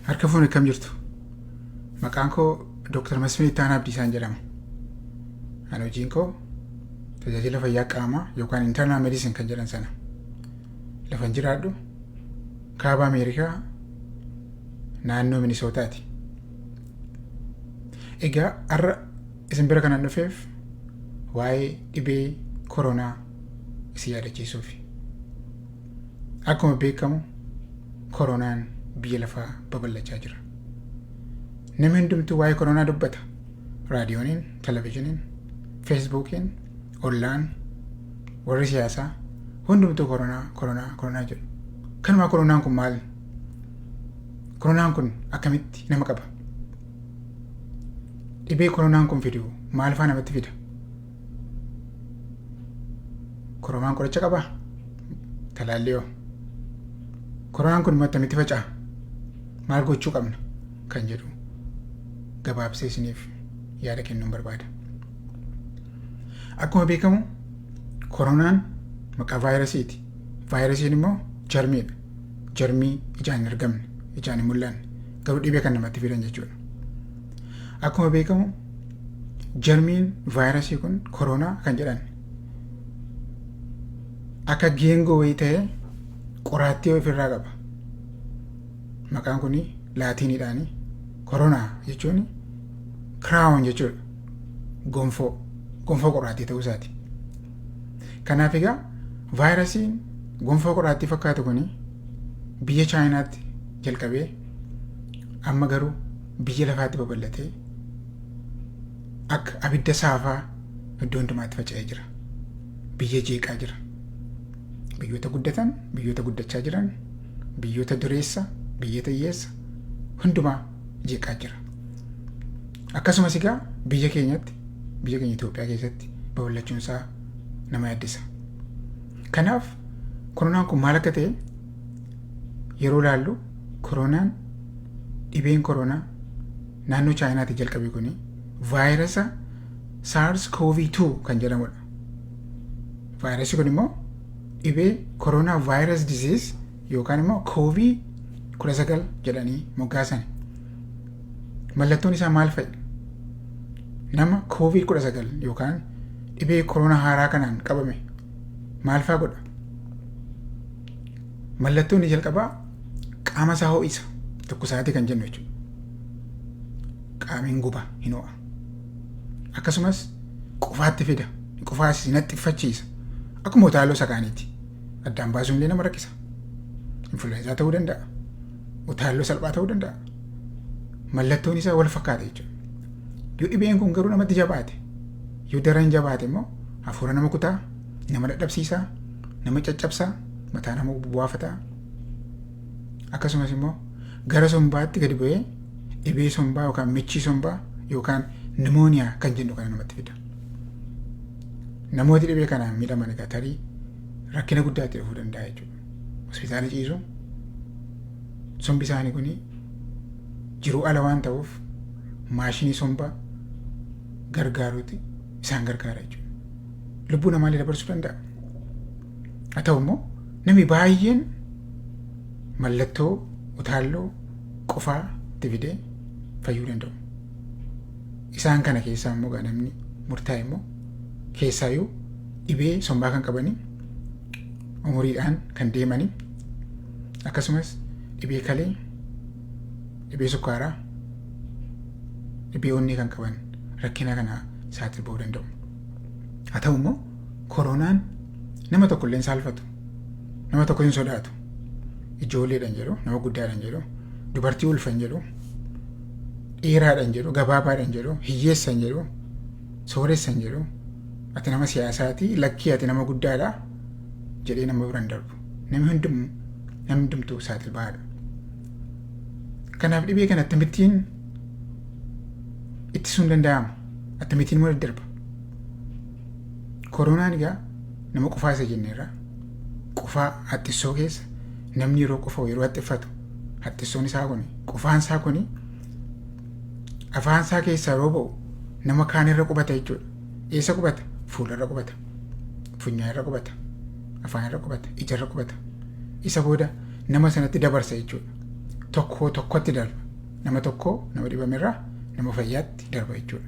Harka fuun akkam jirtu? Maqaan koo Dooktar Masfin Ittaanaa Abdiisaan jedhama. Ani hojiin koo tajaajila fayyaa qaamaa yookaan internal medicine kan jedhan sana. Lafan jiraadhu kaaba Ameerikaa naannoo Minisootaati. Egaa har'a isin bira kanan dhufeef waa'ee dhibee koronaa isin yaadachiisuufi. Akkuma beekamu koronaan biyya lafaa babal'achaa jira. Namni hundumtuu waa'ee koronaa dubbata. Raadiyooniin, televizhiniin, feesbuukiin, ollaan, warri siyaasaa hundumtuu koronaa, koronaa, koronaa jedhu. Kanumaa koronaan kun maal? Koronaan kun akkamitti nama qaba? Dhibee koronaan kun fidu maal fa'aa namatti fida? Koromaan qoricha qaba? Talaallii hoo? Koronaan kun immoo attamitti faca'a? Maal gochuu qabna? Kan jedhu gabaabsee isiniif yaada kennuun barbaada. Akkuma beekamu koronaan maqaa vaayirasiiti. Vaayirasiin immoo jarmiidha. Jarmii ijaan hin argamne, ijaan hin mul'anne, garuu dhibee kan namatti fidan jechuudha. Akkuma beekamu jarmiin vaayirasii kun koroonaa kan jedhan akka geengoo wayii ta'ee qoraattii ofirraa qaba. Maqaan kun laatiiniidhaani koroonaa jechuun kiraawon jechuudha. Gonfoo gonfoo qoraattii ta'uu isaati. Kanaaf egaa vaayirasiin gonfoo qoraattii fakkaatu kun biyya chaayinaatti jalqabee amma garuu biyya lafaatti babal'atee akka abidda saafaa iddoo hundumaatti faca'ee jira. Biyya jeeqaa jira. Biyyoota guddatan, biyyoota guddachaa jiran, biyyoota dureessa, biyyoota hiyyeessa hundumaa jeeqaa jira. Akkasumas egaa biyya keenyatti, biyya keenya Itoophiyaa keessatti babal'achuun isaa nama yaaddessa. Kanaaf koronaan kun maal akka ta'e yeroo laallu koronaan dhibeen koronaa naannoo chaayinaatii jalqabe kun vaayirasa saars koovii 2 kan jedhamudha. Vaayirasii kun immoo dhibee koronaa vaayiras diziis yookaan immoo koovii 19 jedhanii moggaasan. Mallattoon isaa maal fa'i? Nama koovii 19 yookaan dhibee koronaa haaraa kanaan qabame maal fa'aa godha? Mallattoo inni jalqabaa qaama isaa ho'isa tokko isaatii kan jennu jechuudha. Qaamiin guba hin ho'a. Akkasumas qufaatti fida. Qufaas hin haxxiffachiisa. Akkuma utaaloo sakaaniiti. Addaan baasuun illee nama rakkisa. Influenza ta'uu danda'a. Utaaloo salphaa ta'uu danda'a. Mallattoon isaa wal fakkaata jechuudha. Yoo dhibeen kun garuu namatti jabaate yoo daran jabaate immoo hafuura nama kutaa nama dadhabsiisaa nama caccabsaa mataa nama buwaafataa akkasumas immoo gara sombaatti gadi bu'ee dhibee sombaa yookaan michii sombaa yookaan nimooniyaa kan jennu kana namatti fida. Namooti dhibee kanaan miidhaman egaa tarii rakkina guddaa itti dhufuu danda'a jechuudha. Hospitaala ciisuun sombi isaanii kun jiruu ala waan ta'uuf maashinii sombaa gargaaruuti isaan gargaara jechuudha. lubbuu namaallee dabarsuu danda'a. Haa ta'u immoo namni baay'een mallattoo utaalloo qufaa itti fidee fayyuu danda'u. Isaan kana keessaa immoo egaa namni murtaa'e immoo keessaayyuu dhibee sombaa kan qabanii umuriidhaan kan deemanii akkasumas dhibee kalee dhibee sukkaaraa dhibee onnee kan qaban rakkina kana saaxiluu danda'u. Haa ta'u immoo koronaan nama tokko illee hin saalfatu. Nama tokko hin sodaatu. Ijoolleedhaan jedhu, nama guddaadhaan jedhu, dubartii ulfan jedhu, dheeraadhaan jedhu, gabaabaadhaan jedhu, hiyyeessan jedhu, sooressan jedhu, ati nama siyaasaati, lakkii ati nama guddaadha jedhee nama biraan darbu. Namni hundumtuu namni hundumtuu saaxil bahaadha. Kanaaf dhibee kana akkamittiin ittisuun danda'ama? Attamitiin immoo daddarba. Koronaan egaa nama qufaa isa jenneerra. Qufaa haxxissoo keessa namni yeroo qufa'u yeroo haxxiffatu haxxissoon isaa kuni qufaan isaa kuni afaan isaa keessaa yeroo ba'u nama kaan irra qubata jechuudha. Eessa qubata? Fuula irra qubata. Funyaan irra qubata. Afaan irra qubata. Ija irra qubata. Isa booda nama sanatti dabarsa jechuudha. Tokko tokkotti darba. Nama tokko nama dhibamerraa nama fayyaatti darba jechuudha.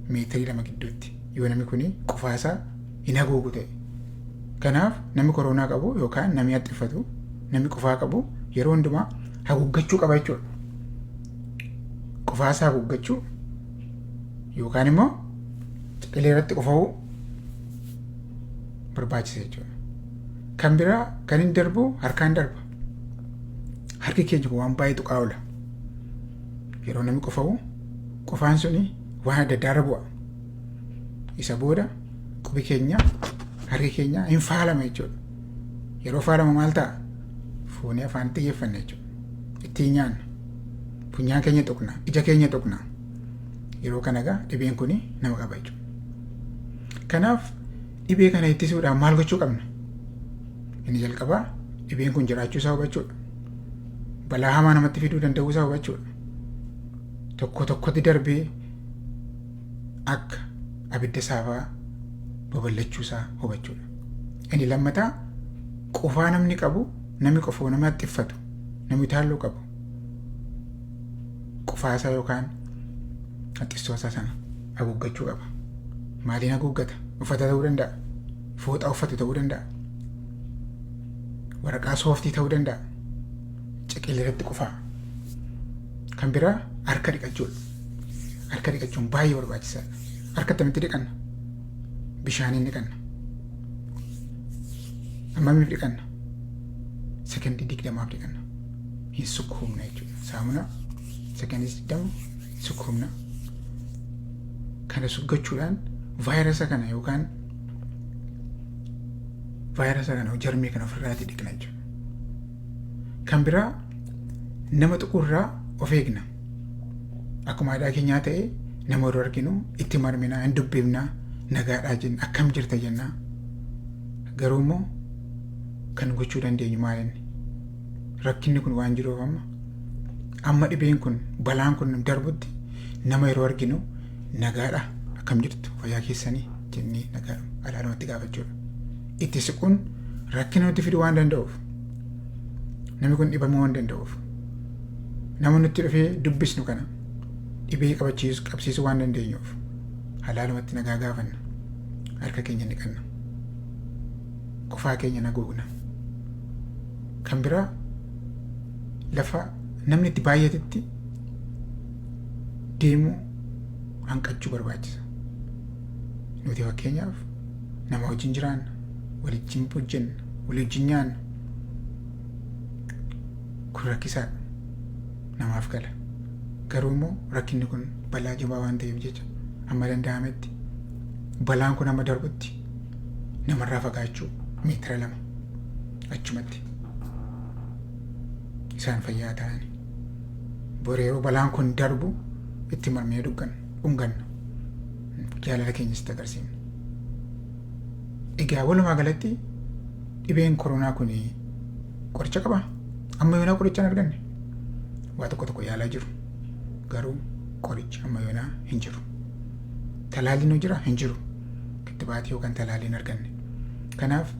Meetirii lama gidduutti yoo namni kun qufaasaa hin haguugu ta'e. Kanaaf namni koroonaa qabu yookaan namni haxxiffatu namni qufaa qabu yeroo hundumaa haguuggachuu qaba jechuudha. Qufaasaa haguuggachuu yookaan immoo ciqilee irratti qufa'uu barbaachisa jechuudha. Kan biraa kan hin darbu harkaan darba. harki keenya kun waan baay'ee tuqaa oola yeroo namni qufa'u qufaan suni waan adda addaarra bu'a isa booda qubi keenya harki keenya hin faalama jechuudha yeroo faalama maal ta'a fuunee afaan itti geeffanna jechuudha ittiin nyaanna funyaan keenya tuqna ija keenya tuqna yeroo kana egaa dhibeen kun nama qaba jechuudha kanaaf Dhibee kana ittisuudhaaf maal gochuu qabna? Inni jalqabaa dhibeen kun jiraachuu isaa hubachuudha. Balaa hamaa namatti fiduu danda'uu isaa hubachuudha. Tokko tokkotti darbee akka abidda saafaa babal'achuu isaa hubachuudha. Inni lammataa qufaa namni qabu namni qufoo nama xiffatu namni taalloo qabu qufaasaa yookaan haxxissoosaa sana haguuggachuu qaba. Maaliin haguuggata? Uffata ta'uu danda'a. Fooxaa uffate ta'uu danda'a. Waraqaa sooftii ta'uu danda'a. Ciqilee irratti qufaa. Kan biraa harka dhiqachuudha. Harka dhiqachuun baay'ee barbaachisaadha. Harka akkamitti dhiqanna? Bishaaniin dhiqanna. Ammamiif dhiqanna? Sekondii digdamaaf dhiqanna. Hin sukkuumna jechuudha. Saamunaa sekondii digdama sukkuumna. Kana suggachuudhaan vaayirasa kana yookaan vaayirasa kana jarmii kana ofirraati dhiqna jechuudha. Kan biraa nama tuqurraa of eegna. Akkuma aadaa keenyaa ta'e nama yeroo arginu itti marminaa hin dubbifnaa nagaadhaa jenna akkam jirta jennaa. Garuu immoo kan gochuu dandeenyu maalinni? rakkinni kun waan jiruuf amma amma dhibeen kun balaan kun darbutti nama yeroo arginu nagaadha akkam jirtu fayyaa keessanii jennee nagaadha araarumatti gaafachuudha. Itti siquun rakkina nutti fiduu waan danda'uuf namni kun dhibamuu waan danda'uuf nama nutti dhufee dubbisnu kana dhibee qabachiisu qabsiisuu waan dandeenyuuf halaalumatti nagaa gaafanna harka keenya ni qabna qofaa keenya naguugna. Kan biraa lafa namni itti baay'atetti deemuu hanqachuu barbaachisa. Nuti fakkeenyaaf nama wajjin jiraanna, waliin hojjenna, walii wajjin nyaanna. Kun rakkisaa namaaf gala. Garuu immoo rakkinni kun balaa jabaa waan ta'eef jecha amma danda'ametti balaan kun amma darbutti namarraa fagaachuu meetira lama achumatti isaan fayyaa ta'an bor yeroo balaan kun darbu itti marmee dhuggan dhunganna jaalala keenya sitti agarsiifna. Egaa walumaa galatti dhibeen koronaa kun qoricha qaba amma yoonaa qoricha hin arganne waa tokko tokko yaalaa jiru garuu qorichi amma yoonaa hin jiru talaalliin hoo jira hin jiru kittibaati yookaan talaallii hin arganne. Kanaaf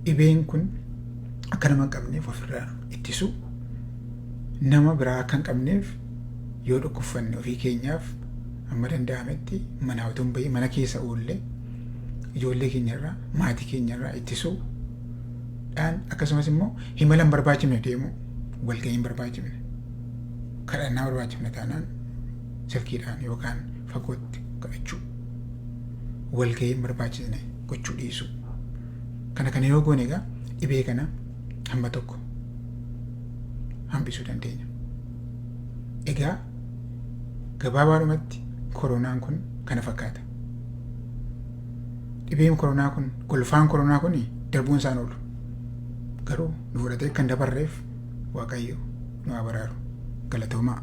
dhibeen kun akka nama hin qabneef ofirraa ittisu nama biraa akka hin qabneef yoo dhukkubfanne ofii keenyaaf amma danda'ametti manaa utuu hin bahin mana keessa oolle ijoollee keenyarraa maatii keenyarraa ittisuu dhaan akkasumas immoo himala hin barbaachifne deemuu walgahii hin barbaachifne kadhannaa barbaachifne taanaan silkiidhaan yookaan fagootti kadhachuu, walgahii hin barbaachisne gochuu dhiisuu. Kana kana yoo goone egaa dhibee kana hamma tokko hambisuu dandeenya. Egaa gabaabaadhumatti koronaan kun kana fakkaata. Dhibeen koronaa kun golfaan koronaa kun darbuun isaan oolu. Garuu nu fudhatee kan dabarreef Waaqayyo nu haa baraaru. Galatoomaa.